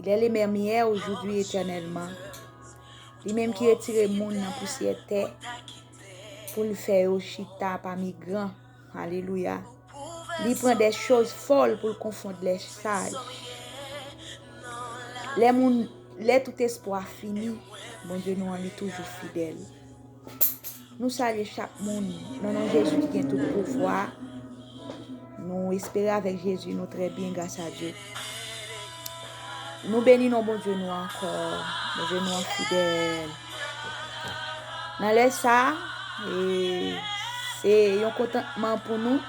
Il est le menm yè, oujoudoui, etènèlman. Li menm ki retire moun nan pousyè tè pou l fè yo chita pami gran. Alelouya. Li pran de choz fòl pou l konfond lè saj. Lè moun, lè tout espwa fini, Bondye nou an li toujou fidèl. Nou salye chak moun nan non Jezi ki gen tout pouvwa. Nou espere avèk Jezi nou trè byen gras a Dye. Nou beni non Bondye nou ankò. Bondye nou an fidèl. Nan lè sa, se yon kontantman pou nou.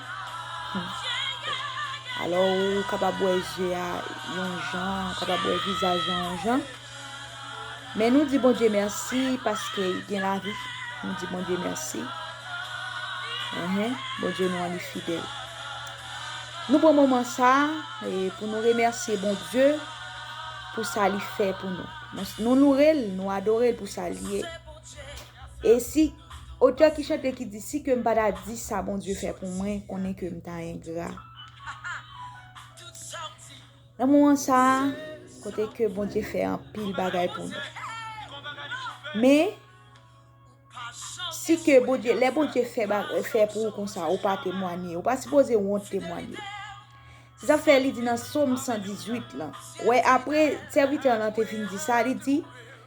Alò ou kapab wè je a yon jan, kapab wè vizaj la yon jan. Men nou di Bondye mèsi paske y gen lavi. Nou di Bondye mèsi. Bondye nou an li fidèl. Nou pran moman sa pou nou remèsi Bondye pou sa li fè pou nou. Nou loure l, nou adore l pou sa li ye. E si otè ki chante ki di si ke m pa ta di sa Bondye fè pou mwen konnen ke m ta engra. Nan moman sa a, kote ke Bondye fè anpil bagay pou nou. Men, si ke Bondye, lè Bondye fè pou ou konsa, ou pa temwanye, ou pa sipoze wont temwanye. Se sa fè li di nan som 118 lan. Wè apre, sèvitè lan te fin di sa, li di,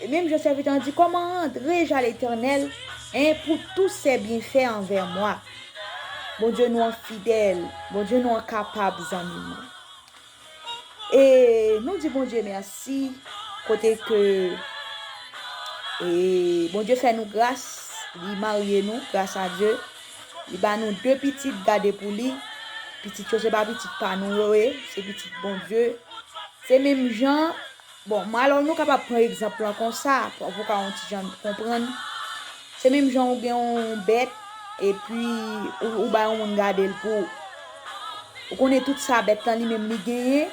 E menm jan sèvitè an di, Kòman rantre ja Letènèl, hein, pou tou sè byenfè anvè mwa. Bondye nou an fidèl, Bondye nou an kapab zanmi mwen. E nou di Bondye mèsi kote ke e Bondye fè nou gras, li marye nou gras a Dye, li ba nou 2 pitit gade pou li, pitit yo se pa pitit pa nou yo ye, se pitit Bondye. Se menm jan Bon, m alò nou kapab pran egzanp lan konsa, pou w ka yon ti jan konprann. Se menm jan ou gen yon bèt, epi ou bay yon moun gade l pou. Ou konnen tout sa bèt lan li menm li genyen,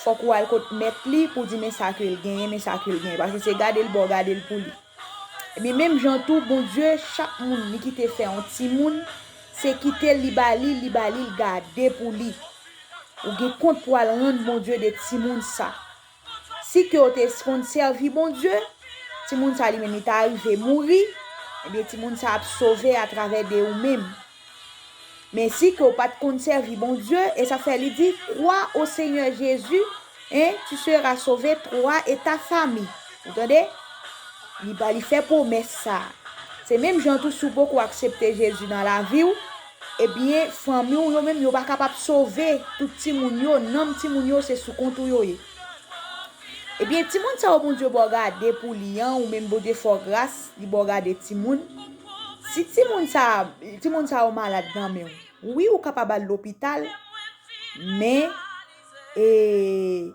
fòk ou al kot mèt li pou w di men sa ke l genyen, men sa ke l genyen. Paske se gade l ba w gade l pou li. Ebyen menm jan tou Bondye, chak moun li kite fè yon timoun, se kite l li ba li, li ba li l gade pou li. Ou gen kont pou al rann Bondye de timoun sa. Si ke yo te konn sèvi Bondye, timoun sa li menm li ta rive mouri, ebyen timoun sa ap sove atravè de ou menm. Men si ke ou pa t konn sèvi Bondye, e sa fè li di, Kwa o Senyè Jezi, e tu sera sove, twa e ta fami. Ou tande? Li ba li fè pwomès sa. Se menm jan tou si ou poko aksepte Jezi nan lavi ou, Ebyen fanmi w yo menm yo pa kapab sove tout timoun yo nanm timoun yo se sou kont ou yo ye ebyen timoun sa yo Bondye baw gade pou li an ou menm Bondye fè w gras li baw gade timoun si timoun sa timoun sa yo malad nan menw wi ou kapab al lopital men ee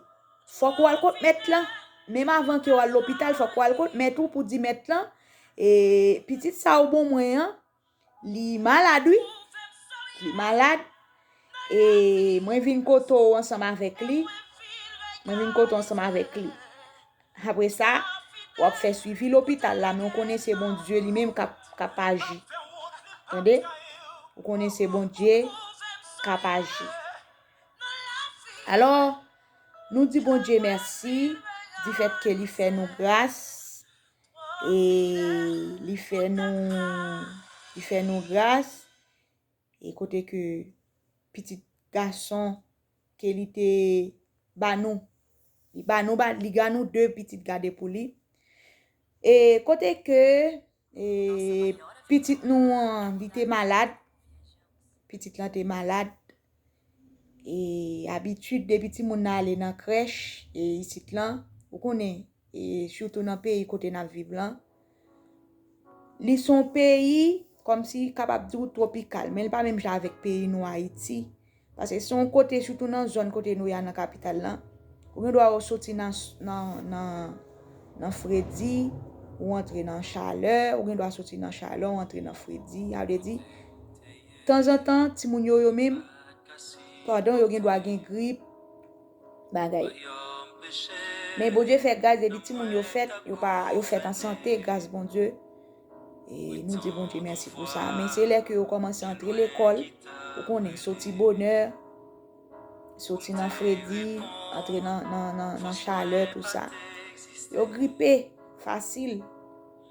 fòk ou al kot mèt lan menm avan kew al lopital fòk ou al kot mèt ou pou di mèt lan ee pitit sa ou bon mwen an. Li malad wi. Li malad. E mwen vin kote ou ansanm avèk li. Mwen vin kote ou ansanm avèk li. Apre sa, wap fè suivi lopital la. Mwen konnen se bon Dieu li menm kap aji. Tande? Mwen konnen se bon Dieu kap aji. Alo, nou di bon Dieu merci. Di fèt ke li fè nou gras. e li fè nou li fè nou gras e kote ke pitit gason ke li te ba nou li ba nou ba li ba nou 2 pitit gade pou li e kote ke e pitit nou an li te malad pitit lan te malad e abitid depi timoun nan ale nan krèch e isit lan, ou konnen e sitou nan peyi kote nap viv lan, li son peyi kòm si kapab di ou twopikal, men li pa menm jan avèk peyi nou Ayiti, pase son kote sitou nan zòn kote nou ya nan kapital lan, ou gen dwa ou soti nan fredi, ou antre nan chalè, ou gen dwa soti nan chalè ou antre nan fredi, sa vle di. Tanzantan timoun yo yo menm pardon yo gen dwa gen grip bagay men Bondye fè gras depi timoun yo fèt yo pa yo fèt an sante gras Bondye e nou di Bondye mèsi pou sa men se lè ke yo kòmanse antre lekòl ou konnen soti bonè soti nan fredi antre nan nan nan chalè tout sa yo gripe fasil.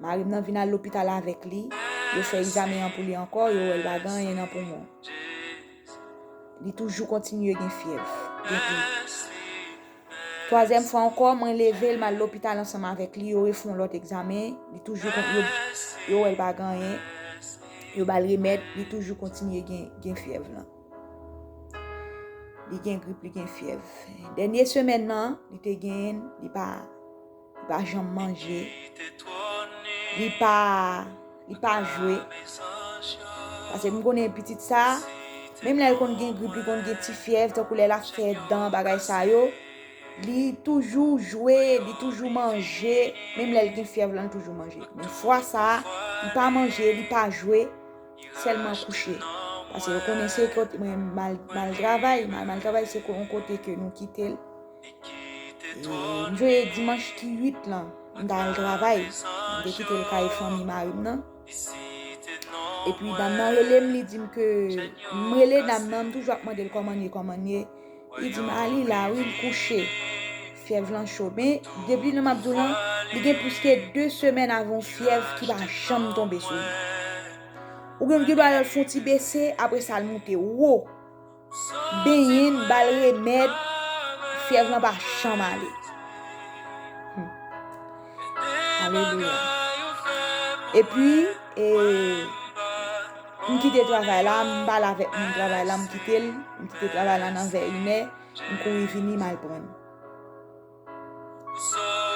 Mari m nan vin al lopital avèk li, yo fè egzamen an pou li ankò, yo wè l pa gen anyen nan poumon. Li toujou kontinye gen fyèv depi. Twazyèm fwa ankò, mwen leve l, m al lopital ansanm avèk li, yo refè yon lòt egzamen, li toujou kontinye, yo wè l pa gen anyen, yo ba l remèd, li toujou kontinye gen fyèv lan. Li gen grip, li gen fyèv. Dènye semèn nan, li te gen, li pa. Li pa janm manje. Li pa, li pa jwe. Pase m konnen pitit sa, menm lè l konn gen grip, li konn gen ti fyèv, tankou lè l ap fè dan, bagay sa yo, li toujou jwe, li toujou manje, menm lè l gen fyèv lan, li toujou manje. Men fwa sa, li pa manje, li pa jwe, sèlman kouche. Pase yo konnen se kote, mwen mal travay, mal travay se kote ke nou kite l. M veye dimanch ki 8 lan m ta al travay m te kite l kay fanmi mari m nan epi dam nan rele m li di m ke m rele dam nan m toujou ap mande l kòman l ye kòman l ye li di m a li la wi l kouche fyèv lan cho men depi lè m ap di w lan li gen plis ke 2 semèn avè yon fyèv ki pa janm tonbe sou li ou gen gen dwa wè l fon ti bese apresa l moute wo. Benyen n, ba l remèd, fyèv lan pa janm ale. Alelouya. E pi, e, m kite travay la, m pale avèk moun travay la, m kite l, m kite travay la nan vè inè, m kouri vini m al pran l.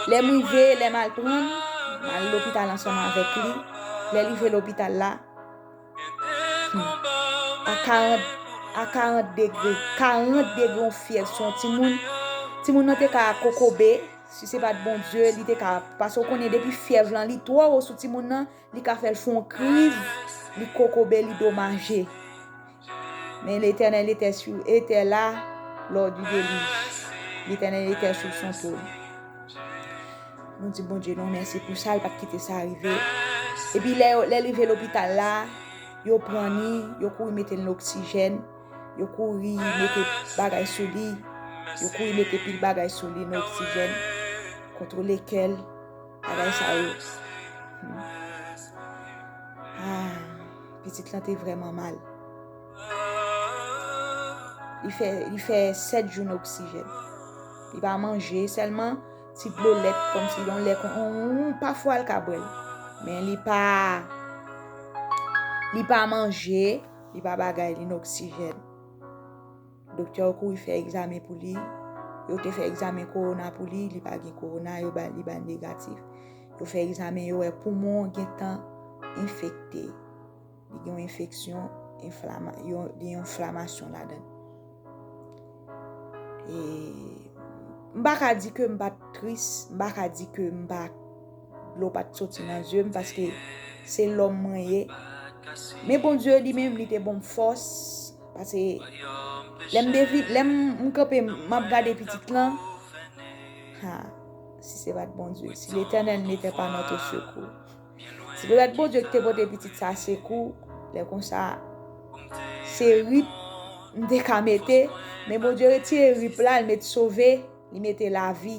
Lè m rive, lè m al pran l, m al lopital ansanm avèk li. Lè l rive lopital la, a 40 degre, 40 degre yon fyèv sou yon timoun, timoun nan te ka kokobe, si se pa t Bondye, li te ka, paske w konnen depi fyèv lan li twò wo sou timoun nan, Li ka fèl fon kriz, li kokobe, li domaje. Men l'Eternel etè sou, etè la lò di delij. L'Eternel etè sou son tron. Nou di Bondye nou mèsi pou sa, li pat kite sa rive. E pi lè yo, lè li ve lopital la, yo pran ni, yo kouri mete ni oksijèn, yo kouri mete bagay sou li, yo kouri mete pil bagay sou li, ni oksijèn, kontrole kèl. Bagay sa yo. Ah, pitit lan te vreman mal. Li fè, li fè 7 jou nan oksijèn. Li pa manje, sèlman ti dlo lèt kon si yon lèt kon ou, pa fwa l ka bwè l. Men li pa, li pa manje, li pa bagay, li nan oksijèn. Doktè yo kouri fè egzamen pou li, yo te fè egzamen kowona pou li, li pa gen kowona, yo ba li ba negatif. Yo fè egzamen yo wè poumon gen tan enfekte. Li gen yon enfeksyon, gen yon enflamasyon ladan. E m baka di ke m pa tris, m baka di ke m pa. Dlo pat soti nan zye m paske se lòm mwen ye. Men Bondye li menm li te ban m fòs pase lè m devi lè m kanpe m ap gade pitit lan ha si se pat Bondye si Letènèl n'etè pa notre sekou si te pat Bondye ki te pote pitit sa sekou lè konsa se rip m te ka mete men Bondye retire rip la l met sove li mete lavi.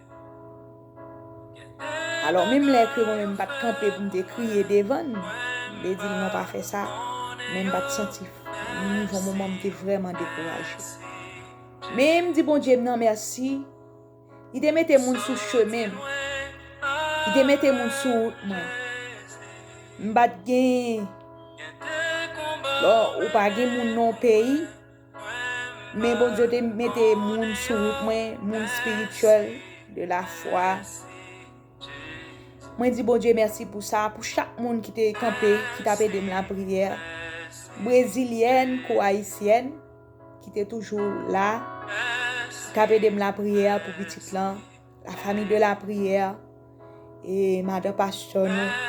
Alò menm lè ke mwen menm m pa t kanpe pou m te kriye devan l, m te di l non pa fè sa, men m pa t santi, m gon moman m te vrèman dekouraje. Men m di Bondye m nan mèsi, li te mete moun sou chemen m, li te mete moun sou wout mwen. M pa t gen, lò ou pa gen moun nan yon peyi. Men Bondye te mete moun sou wout mwen, moun spirituel, de la fwa. Mwen di Bondye mèsi pou sa, pou chak moun ki te kanpe, ki tape de m la priyè. Brezilyèn kou Ayisyèn, ki te toujou la, tape de m la priyè pou pitit lan, la fami de la priyè, e madan pastor nou.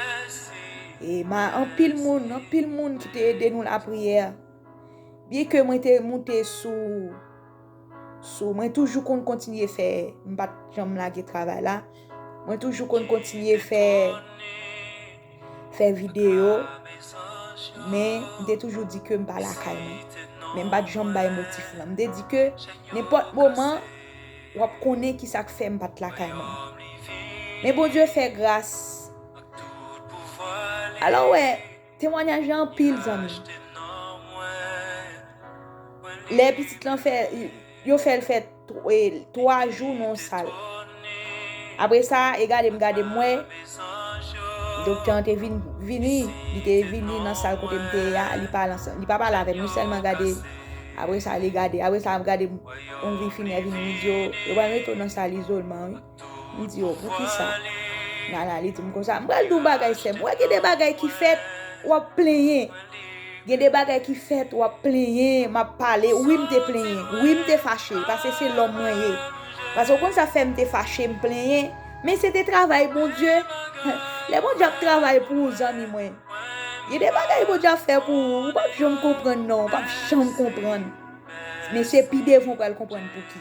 E ma anpil moun, anpil moun ki te de nou la priyè. Byen ke mwen te moute sou, sou, mwen toujou konn kontinye fè, m pa t janm lage travay la, mwen toujou konn kontinye fè, fè videyo, men m te toujou di ke m pa lakay mwen. Men m pa t janm bay motif lan. M te di ke nenpòt moman, w ap konnen ki sa k fè m pa t lakay mwen. Men Bondye fè gras. Alò wè. Temwanyaj la anpil zanmi. Lè pitit lan fè yo fèl fè 3 jou nan yon sal. Apre sa e gade m gade m wè doktè an te vin vini li te vini nan sal kote m te ye a li pa al ansanm li pa pale avè m li sèlman gade apre sa li gade apre sa ap gade m yon vi finè vin li di yo yo pral mete w nan sal izolman wi. M di yo poukisa Nana li di m konsa m pral di w bagay sè m wè gen de bagay ki fèt w ap plenyen gen de bagay ki fèt w ap plenyen m ap pale wi m te plenyen wi m te fache pase se lòm mwen ye pase w konn sa fè m te fache m plenyen men se te travay Bondye lè Bondye ap travay pou ou zanmi mwen gen de bagay Bondye ap fè pou ou ou p ap janm konprann non ou p ap janm konprann men se pi devan w pral konprann pouki.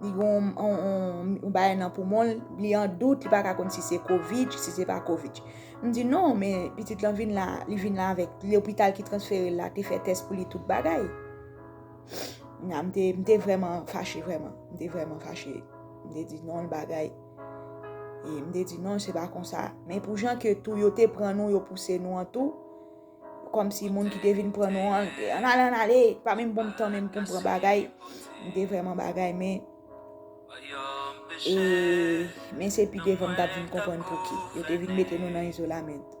Li gen yon bagay nan poumon l, li an dout, li pa ka konn si se covid, si se pa covid. M di non, men pitit lan vin la, li vin la avèk lopital ki transfere l la te fè tès pou li tout bagay. Na m te, m te vrèman fache vrèman. M te vrèman fache. M te di non l bagay. E m te di non se pa konsa. Men pou jan ke tou yo te pran nou, yo pouse nou an tou. Kòmsi moun ki te vin pran nou an te an ale an ale, m pa menm bonm tan menm pou m pran bagay, m te vrèman bagay men e men se pi devan m t ap vin konprann pouki yo te vin mete nou nan izolamènt.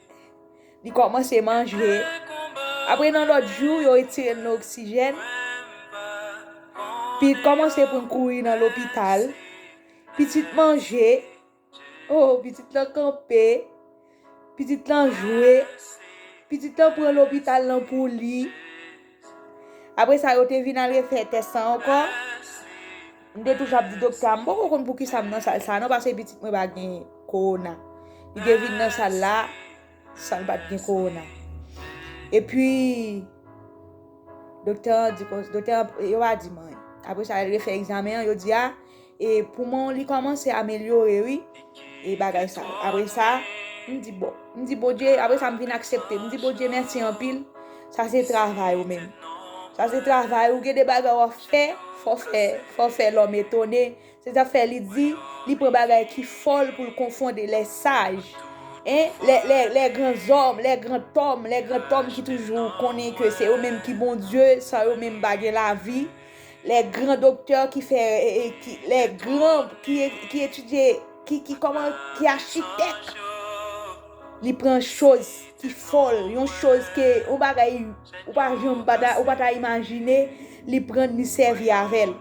Li kòmanse manje. Apre nan lòt jou, yo retire l nan oksijèn. Pi kòmanse pou l kouri nan lopital. Pitit manje. O, pitit lan kanpe. Pitit lan jwe. Pitit lan pran lopital lan pou li. Apre sa yo te vin al refè tès lan ankò. M te toujou ap di doktè a m poko konn poukisa m nan sal sa a non pase pitit mwen pa gen kowona. Li te vin nan sal la san l pa t gen kowona. Epi, doktè an di konsa, doktè an, yo pa di m anyen. Apre sa yo refè egzamen an, yo di a. E poumon w li kòmanse amelyore wi e bagay sa. Apre sa, m di bon, m di Bondye, apre sa m vin aksepte. M di Bondye mèsi anpil, sa se travay ou menm. Sa se travay ou, gen de bagay w ap fè, fò w fè, fò w fè lòm etone. Se sa fè li di, li pran bagay ki fòl pou l konfonde lè saj. E, lè, lè, lè granzòm, lè grantòm, lè grantòm ki toujou konnen ke se yo menm ki Bondye, san yo menm pa gen lavi. Lè gran doktè ki fè, lè gran ki etidye, ki kòman, ki achitèk, li pran choz ki fòl, yon choz ke ou bagay, ou pa janm pa ta, ou pa ta imajine, li pran li sèvi avèl.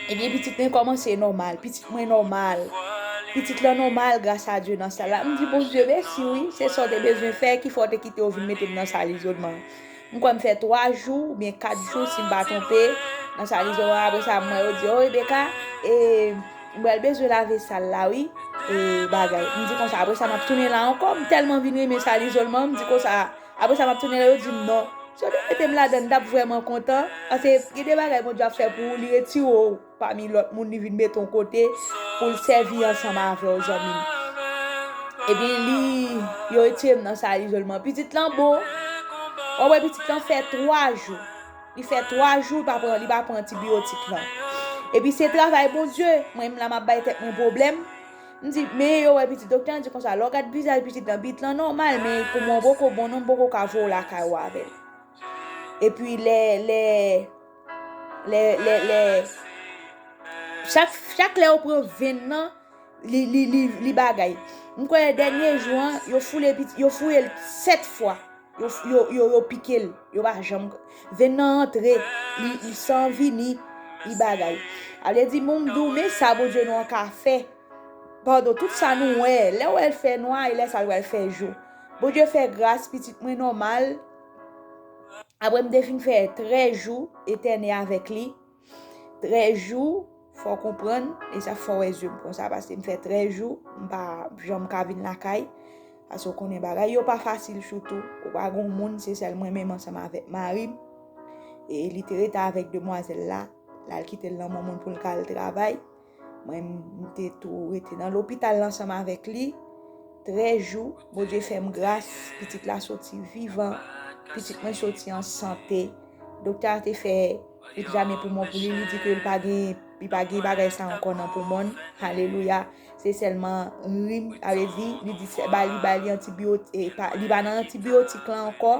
Ebyen pitit mwen kòmanse nòmal, pitit mwen nòmal, pitit lan nòmal gras a Dye nan sal la. M di Bondye mèsi wi, se sa w te bezwen fè ki fè w te kite yo vin mete m nan sal izolman an. M kwè m fè 3 jou ou byen 4 jou si m pa twonpe nan charizo a apre sa m wè yo di oh Rebecca e m pral bezwen lave sal la wi e bagay m di konsa apre sa m ap tounen la ankò m tèlman vin renmen sal izolman m di konsa apre sa m ap tounen la yo di m non si yo te mete m ladan m t ap vrèman kontan paske gen de bagay Bondye ap fè pou ou li retire w Pami lòt moun li vin mete yon kote pou l sèvi ansanm avè w zanmi m. Epi li, yo retire m nan sal izolman. Pitit lan bon, w ap wè pitit lan fè 3 jou. Li fè 3 jou li pa pran antibiyotik lan. Epi se travay Bondye, mwen m la m ap bay tèt mwen pwoblèm. M di, men yo wè pitit doktè an di konsa lè w gad vizaj pitit lan, pitit lan nòmal men pou mwen w poko bon non m poko ka voye w lakay ou avè l. Epi lè, lè. Chak lè yo pran venn nan, li bagay. M kwè dènye jou an, yo fouye l 7 fwa. Yo pike l, yo pa janm. Venn nan antre, li san vini, li bagay. A vle di moun m di w men sa Bondye nou an ka fè. Padon, tout sa nou wè, lè w wè l fè nwa, e lè sa l wè l fè jou. Bondye fè gras, pitit mwen nòmal. Apre m te fin fè 13 jou etène avèk li, 13 jou, fò w konprann, e sa fò w wè zye m konsa paske m fè 13 jou, m pa janm ka vin lakay, paske w konnen bagay yo pa fasil sitou, ou pa gen yon moun, se sèl mwen menm ansanm avèk mari m, e li te rete avèk demwazèl la, l al kite l nan moun moun pou l ka al travay. Mwen m te tou rete nan lopital ansanm avèk li. 13 jou, Bondye fè m gras, pitit la soti vivan, pitit mwen soti an sante. Doktè a te fè egzamen poumon pou li, li di ke li pa gen, li pa gen bagay sa ankò nan poumon l. Alelouya! Se sèlman rim, sa vle di, li di se ba li, ba li antibiyotik, li pa nan antibiyotik lan ankò.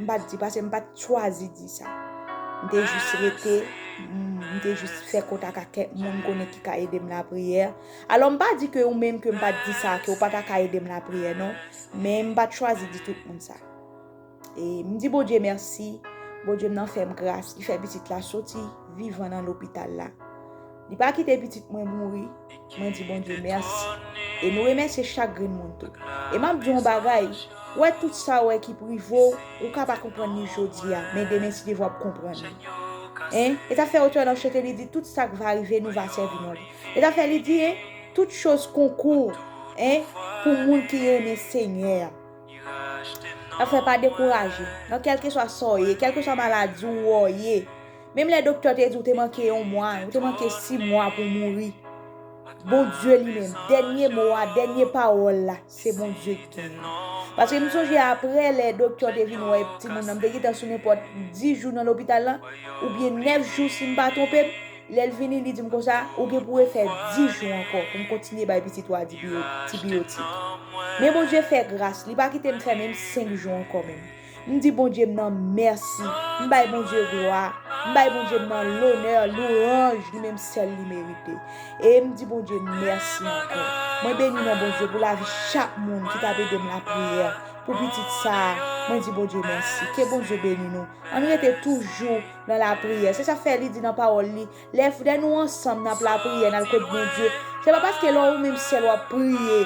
M pa t di pase m pa t chwazi di sa. M te jis rete, m te jis fè kontak ak kèk moun m konnen ki ka ede m lapriyè. Alò m pa di ke ou menm ke m pa t di sa ke ou pa ta ka ede m lapriyè non. Men m pa t chwazi di tout moun sa. E m di Bondye mèsi, Bondye m nan fè m gras, li fè pitit la soti vivan nan lopital la. Li pa kite pitit mwen mouri, mwen di Bondye mèsi. E nou remèsye chak grenn moun tou. E m'ap di w yon bagay, ou wè tout sa ou wè ki prive w, ou ka pa konprann li jodi a, men demen si Dye vle w ap konprann li. E, e ta fè otè lan chante li di tout sa k va rive nou va sèvi non li. E ta fè li di e, tout choz konkou, e, pou moun ki renmen Senyè a. Ta fè pa dekouraje, nan kèlkeswa sa w ye, kèlkeswa maladi w ou ye. Menm lè doktè te di ou te manke yon mwa, ou te manke si mwa pou mouri, Bondye li menm, dènye mo a, dènye pawòl la, se Bondye ki gen li. Paske m sonje apre lè doktè te vin wè timoun nan, m te gentan sou nenpòt 10 jou nan lopital lan, oubyen 9 jou si m pa twonpe m, lè l vini li di m konsa, ou gen pou refè 10 jou ankò pou m kontinye bay pitit ou a dibiyotik. Men Bondye fè gras, li pa kite m fè menm 5 jou ankò menm. M di Bondye m nan mèsi, m bay Bondye glwa, m bay Bondye m nan lonè, louranj li menm sèl li merite. E m di Bondye mèsi ankò. Mwen beni non Bondye pou lavi chak moun ki t ap ede m lapriyè pou pitit sa a. Mwen di Bondye mèsi. Ke Bondye beni nou. Ann rete toujou nan lapriyè. Se sa k fè li di nan pawòl li. Lè frè nou ansanm nan ap lapriyè, nan kot Bondye, se pa paske lè ou menm sèl wap priye,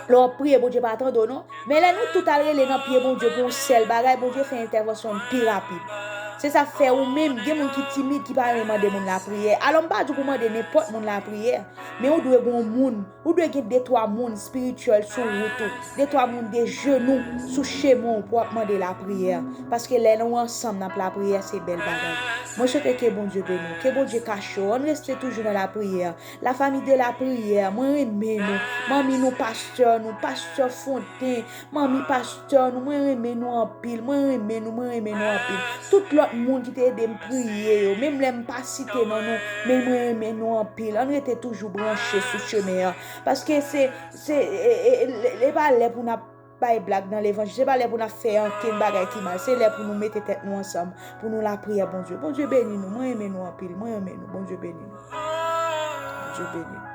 lè wap priye Bondye pa tande w non, men lè nou tout al rele nan pye Bondye pou yon sèl bagay, Bondye fè entèvansyon l pi rapid. Se sa fè ou menm, gen moun ki timid ki pa renmen mande moun lapriyè. Alò m pa di w pou mande nenpòt moun lapriyè, men ou dwe gen yon moun Ou dwe gen de twa moun spirituel sou wout ou, de twa moun de jenou sou chemen w pou ap mande lapriyè, paske lè nou ansanm nap lapriyè se bèl bagay. Mwen swete ke Bondye beni w, ke Bondye kache w, ann reste toujou nan lapriyè, la famille de la prière, mwen renmen nou, manmi nou, pastè nou, pastè Fonten, Manmi pasteur nou mwen renmen nou anpil mwen renmen nou mwen renmen nou anpil tout lòt moun ki te edem priye yo menm lèm pa site non nou men mwen renmen nou anpil ann rete toujou branche sou chemen an paske se se e pa lè pou nap bay blag nan levanjil se pa lè pou nap fè ankenn bagay ki mal se lè pou nou mete tèt nou ansanm pou nou lapriyè Bondye Bondye beni nou mwen renmen nou anpil mwen renmen nou Bondye beni nou Bondye beni nou.